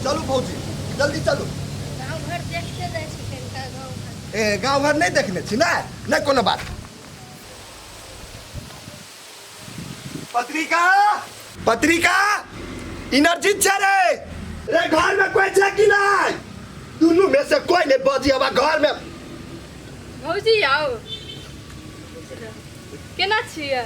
चलू भौजी जल्दी चलू गाँव घर देखते जाइ छी कनिका गाँव घर ए गाँव घर नहीं देखने छी ना नहीं कोनो बात पत्रिका पत्रिका एनर्जी छे रे रे घर में कोई छे कि नहीं दुनू में से कोई नहीं बजी हवा घर में भौजी आउ केना छियै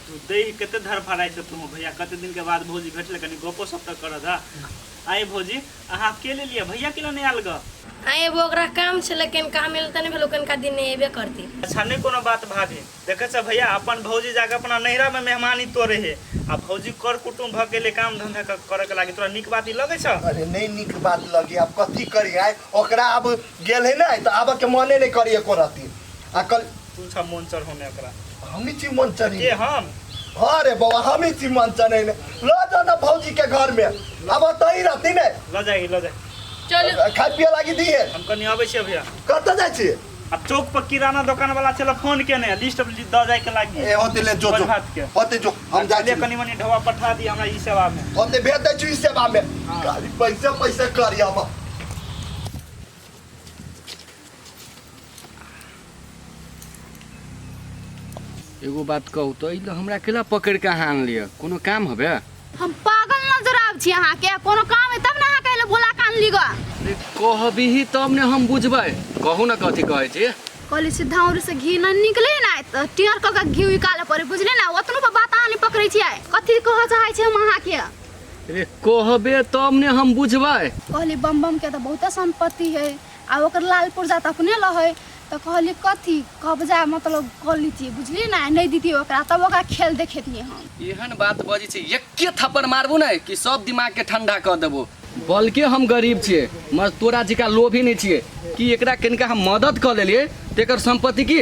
तू दै कते धर भराइ छौ तू भैया कते दिन के बाद भौजी भेटले कनी गपो सब तक कर दा आए भौजी अहाँ के ले लिया भैया के नहीं आल ग आए वो ओकरा काम छे लेकिन का मिल तने भेलो कनका दिन ने एबे करती अच्छा नहीं कोनो बात भाभी देखे छ भैया अपन भौजी जाके अपना नैहरा में मेहमानी तोरे है आ भौजी कर कुटुम भ गेले काम धंधा क- करे के लागी तोरा निक बात ई लगे छ अरे नहीं निक बात लगी अब कथी करी आए ओकरा अब गेल है ना तो आबे के मने नहीं करिए को रहती आ कल तू छा मन चढ़ होने एकरा हमी छी मन चढ़ी के हम अरे बाबा हमी छी मन चढ़े ले लो जाओ ना भौजी के घर में अब तही रहती ने ल जाएगी ल जाए चलो खाए पिए लागी दी है हम कनी आबै छियै भैया कतऽ जाइ छी आ चौक पर किराना दोकान वाला छला फोन केने लिस्ट अब द जाए के लागी ए होते ले जो जो बजभात के। होते जो हम जाइ ले छी कनी मनी ढवा पठा दी हमरा ई सेवा में होते भेज दै छी ई सेवा में हाँ। खाली पैसे पैसे करी हम एगो बात कहू तो ई लोग हमरा अकेला पकड़ के अहाँ आन लिया कोनो काम हबे हम पागल नजर आब छी अहाँ के कोनो काम है तब ना अहाँ कहले बोला कान लिगा अरे कहबी ही तब ने हम बुझबै कहू ना कथी कहै छी कहली सीधा उर से घी न निकले ना त टियर क के घी निकाले पड़े बुझले ना ओतनो पर बात अहाँ नहीं पकड़े छी आय कथी कह चाहे छी हम अहाँ के अरे कहबे तब ने हम बुझबै कहली बम बम के तो बहुते संपत्ति है आ ओकर लाल पुर्जा तऽ अपने लहै तऽ कहली कथी कब्जा मतलब कऽ लीतियै बुझलियै ने आ नहि दितियै ओकरा तब ओकरा खेल देखेतियै हम एहन बात बजै छै एके थप्पड़ मारबो ने कि सब दिमाग के ठंडा कऽ देबो बल्कि हम गरीब छियै मगर तोरा जिका लोभी नहीं छियै कि एकरा कनिका हम मदद कऽ लेलियै तऽ एकर संपत्ति की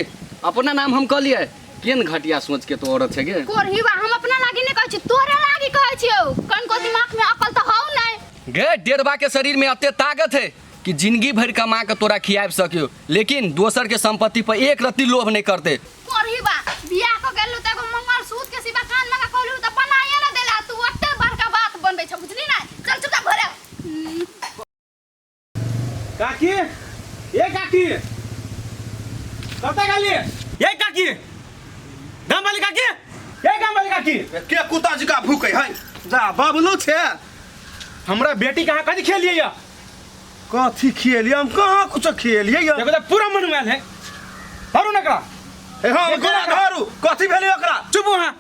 अपना नाम हम कऽ लियै केन घटिया सोच के तो औरत छै गे कोरही बा हम अपना लागी नहीं कहै छी तोरे लागी कहै छियौ कनको दिमाग में अकल तऽ हौ नहीं गे डेढ़बा के शरीर में अते ताकत है कि जिंदगी भरि कमा के तोरा खियाब सकियो लेकिन दोसर के संपत्ति पर एक रत्ती लोभ नहीं करते करही बा बियाह क गेलू त एगो मंगलसूत्र के सिवा कान में का कहलू त बनाइए ना देला तू ओते बड़का बात बनबै छ बुझली ना चल चुपचाप घरे हम्म, काकी ए काकी कतऽ गेली ए काकी गाम वाली काकी ए गाम वाली काकी के कुत्ता जी का भूखे है जा बबलू छे हमरा बेटी कहाँ कथी खेलिए या कथी खियलिए हम कहाँ कुछ खियलिए या देखो त पूरा मन में आयल है धरू न एकरा ए हाँ देखो ओकरा ना। धरू कथी भेलै ओकरा चुप वहाँ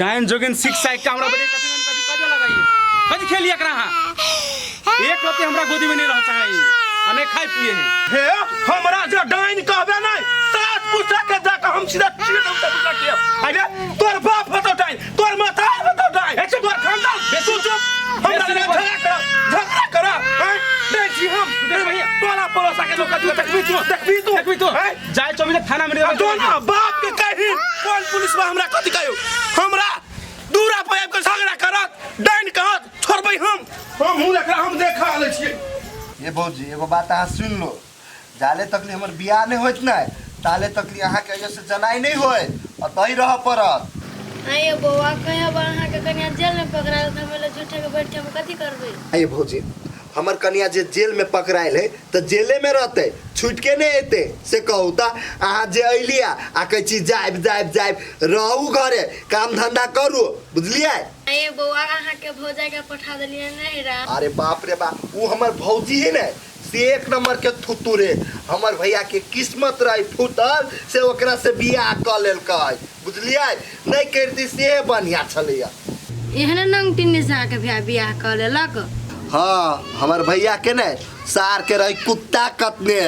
डायन जोगिन सिक्स साइड का हमरा बड़ी कथी कथी कथी लगाइए कथी खेलिए एकरा हाँ एक रति हमरा गोदी में नहीं रह चाहे अने खाए पिए है हे हमरा जे डाइन कहबे नहीं सात पूछा के जाके हम सीधा चीर दूँ तब के अरे तोर बाप होतो डाइन तोर माथा है बता दे ए चुप कर खानदान बेसु चुप हम लगे झगड़ा कर झगड़ा कर हैं दे जी हम दे भैया टोला पड़ोसा के लोग का तकबी तू तकबी तू तकबी तू हैं जाय चौमी ने थाना में दे जो ना बाप के कही कौन पुलिस में हमरा कथि कहियो हमरा दूरा पर आबि के झगड़ा करत डाइन कहत छोड़बै हम हम मुंह देखला हम देखा ले छियै ये भौजी एगो बात अहाँ सुनि लो जाले तक ले हमर बियाह नहीं होत ना ताले तक ले अहाँ के ऐसे जनाई नहीं होय अतई रह परत आइए बौआ कहीं अब अहाँ के कन्या जेल में पकड़ा तो हमें लोग झूठे के बैठ के हम कथी करबे आइए भौजी हमर कन्या जे जेल में पकड़ायल है तो जेले में रहते छूट के नहीं अते से कहू ता अहाँ जे अलिया आ कहे छी जायब जायब जायब रहू घरे काम धंधा करू बुझलिए आइए बौआ अहाँ के भौजाई के पठा देलिए नहीं रा अरे बाप रे बाप वो हमर भौजी है ना से एक नंबर के थुतू रे हमर भैया के किस्मत रही फूटल से ओकरा से बियाह क लेलक बुझलिए नहीं करती से बढ़िया छलैया एहने नंगटी निशा के भैया बियाह कर लेलक हाँ हमर भैया के ने सार के रही कुत्ता कतने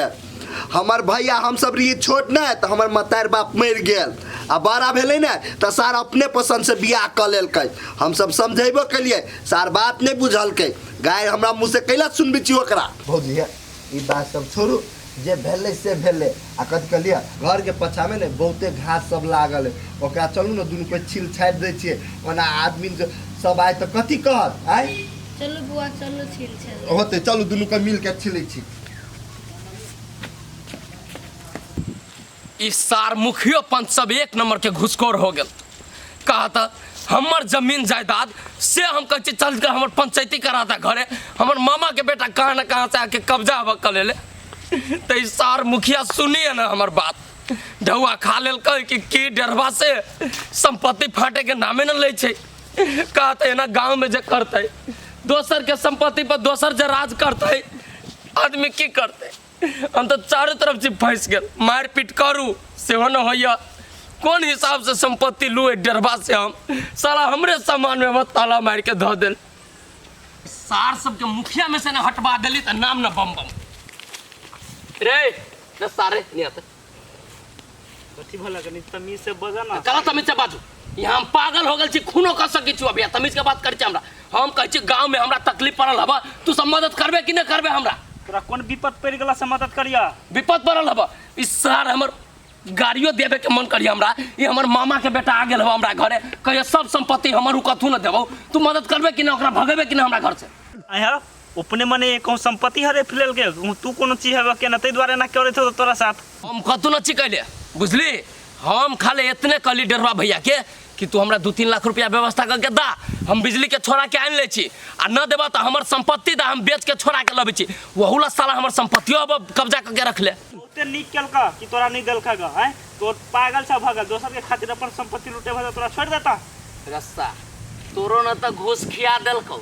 हमर भैया हम सब रही छोट ने तो हमर मतार बाप मर गेल आ बड़ा भेले ने तो सार अपने पसंद से बियाह क लेलक हम सब समझेबो कलिए सार बात नहीं बुझलकै गाय हमरा मुँह से कैला सुनबी छी ओकरा भौजी है ई बात सब छोड़ू जे भेले से भेले आ कथी कहलिए घर के पछा में ने बहुते घास सब लागल है ओकरा चलू ने दुनू कोई छिल छाट दे छिए ओना आदमी जो सब आए तो कथी कहत आए चलू बुआ चलू छिल छल होते चलू दुनू को मिल के छिले छी ई सार मुखियो पंच सब एक नंबर के घुसखोर हो गेल कहा था हमर जमीन जायदाद से हम कहे चल के हमर पंचायती करा था घरे हमर मामा के बेटा कहा ना कहा से आके कब्जा हवा कर ले तो ई सार मुखिया सुनिए ना हमर बात ढौआ खा लेल कह कि की डरवा से संपत्ति फाटे के नामे न ले छै कहा था एना गाँव में जे करते दोसर के संपत्ति पर दोसर जे राज करते आदमी की करते हम तऽ चारू तरफ से फँसि गेल मारपीट करू सेहो न होइए कोन हिसाबसँ सम्पत्ति लू एहि डेरबा से हम साला हमरे सामानमे हमरा ताला मारि कऽ धऽ देल सार सबके मुखियामे से ने हटबा देली तऽ नाम ने बम बम रे न सारे निया तऽ कथी भला कनी तमीज से बजा ना कला तमीज से बाजू यहाँ हम पागल हो गल छी खूनो कर सके छी अभी तमीज के बात कर छी हमरा हम कह छी गांव में हमरा तकलीफ पड़ल हबा तू सब मदद करबे कि न करबे हमरा तोरा कोन विपत पड़ गेला से मदद करिया विपत पड़ल हबा ई सार हमर गाड़ियो देवे के मन करी हमरा ई हमर मामा के बेटा आ गेल हबा हमरा घरे कहियो सब संपत्ति हमर उ कथू न देबो तू मदद करबे कि न ओकरा भगेबे कि न हमरा घर से आया अपने मने कहूँ संपत्ति हरे फिलल के कहूँ तू कोनो चीज हवे के ना ते द्वारा ना करे थे तोरा साथ हम कतू न छी कहले बुझली हम खाले इतने कहली डरवा भैया के कि तू हमरा दू तीन लाख रुपया व्यवस्था करके दा हम बिजली के छोड़ा के आनि ले छी आ न देबा तो हमर संपत्ति दा हम बेच के छोड़ा के लबे छी वहू ला साला हमर संपत्तियो अब कब्जा करके रख ले बहुते नीक केलका कि तोरा नहीं देलका ग हैं तोर पागल सा भगल दोसर के खातिर अपन संपत्ति लूटे भगल तोरा छोड़ देता रस्ता तोरो न तो घूस खिया देलकौ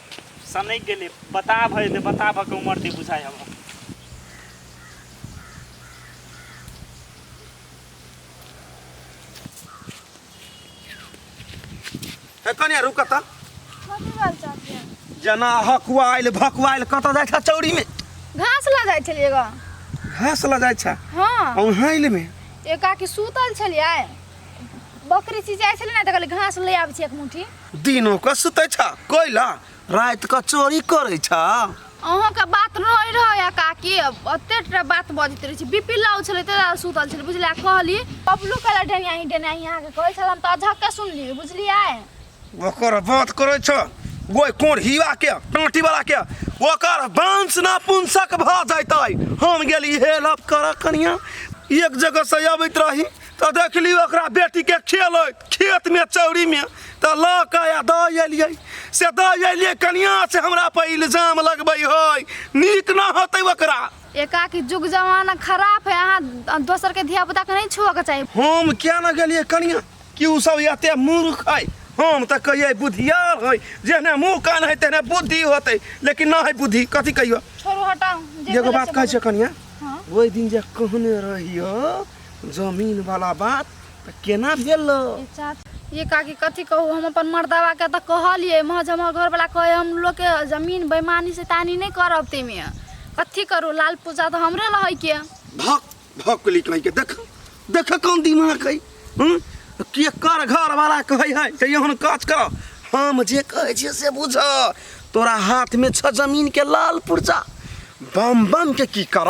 सनक गेले बता भए दे बता भके उमर दे बुझाय हम हे कनिया रुक त कथी बात चाहती है जना हकुआइल भकुआइल कत जाइ छ चौरी में घास लऽ जाइ छलियै ग घास ल जाइ छ हाँ औहैल में एकाकी सुतल छलियै बकरी चिचाइ छलै ने तऽ कहलियै घास लऽ आबै छी एक मुट्ठी दिनो के सुते छ कोइला रात के चोरी करे छ अहाँके बात रहै रहै आ काकी ओते टा बात बजैत रहै छी बीपी लाउ छलै ताहि दुआरे सुतल छलै बुझलियै आ कहली बबलू कहला डेनिया ही डेनिया ही अहाँके कहै छल हम तऽ अझक्के सुनलियै बुझलियै ओकर बात करे छ ओइ कोन हिवा के टाटी वाला के ओकर वंश ना पुंसक भ जैतै हम गेली हेल्प कर कनिया एक जगह से अबैत रही तऽ देखली ओकरा बेटीके खेल खेतमे चौरीमे तऽ लऽ कऽ आ दऽ अयलियै से दऽ अयलियै कनिया से हमरा पर इल्जाम लगबै है नीक न होतै ओकरा एकाकी जुग जमाना खराब है अहाँ दोसर के धिया पुता के नहीं छुआ के चाहिए हम क्या न गेलियै कनिया कि ओ सब एते मूर्ख है हम तऽ कहियै बुधियार है जेहने मुँह कान है तेहने बुद्धि होतै लेकिन न है बुद्धि कथी कहियो छोड़ू हटाऊ जे एगो भेलै बात से कहै छियै कनिया हाँ। ओहि दिन जे कहने रहियो जमीन वाला बात तऽ केना भेल ये काकी कथी कहू हम अपन मर्दावा के तऽ कहलिए मह जे हमर घरवाला कहे हम लोग के जमीन बेईमानी से तानी नहीं करब ते में कथी करू लाल पूजा तो हमरे लहै के भक भकली कहीं के देख देख कौन दिमाग है हम्म? के कर घर वाला कहे है ते एहन काज कर हम जे कहे छियै से बुझ तोरा हाथ में छ जमीन के लाल पुर्जा बम बम के की कर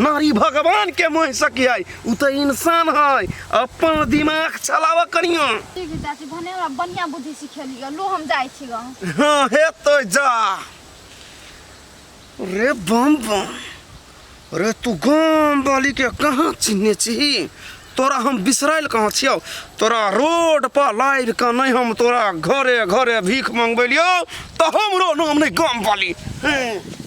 नारी भगवान के मोह सकी है उ तो इंसान है अपन दिमाग चलावा करियो ठीक है चाची भने हमरा बढ़िया बुद्धि सिखेलियो लो हम जाय छी गाँव हाँ हे तो जा रे बम बम रे तू गाम वाली के कहाँ चिन्हे छी तोरा हम बिसराइल कहाँ छियौ तोरा रोड पर लाइव के नहीं हम तोरा घरे घरे भीख मंगबेलियो तो हमरो नाम नहीं गाम वाली हैं।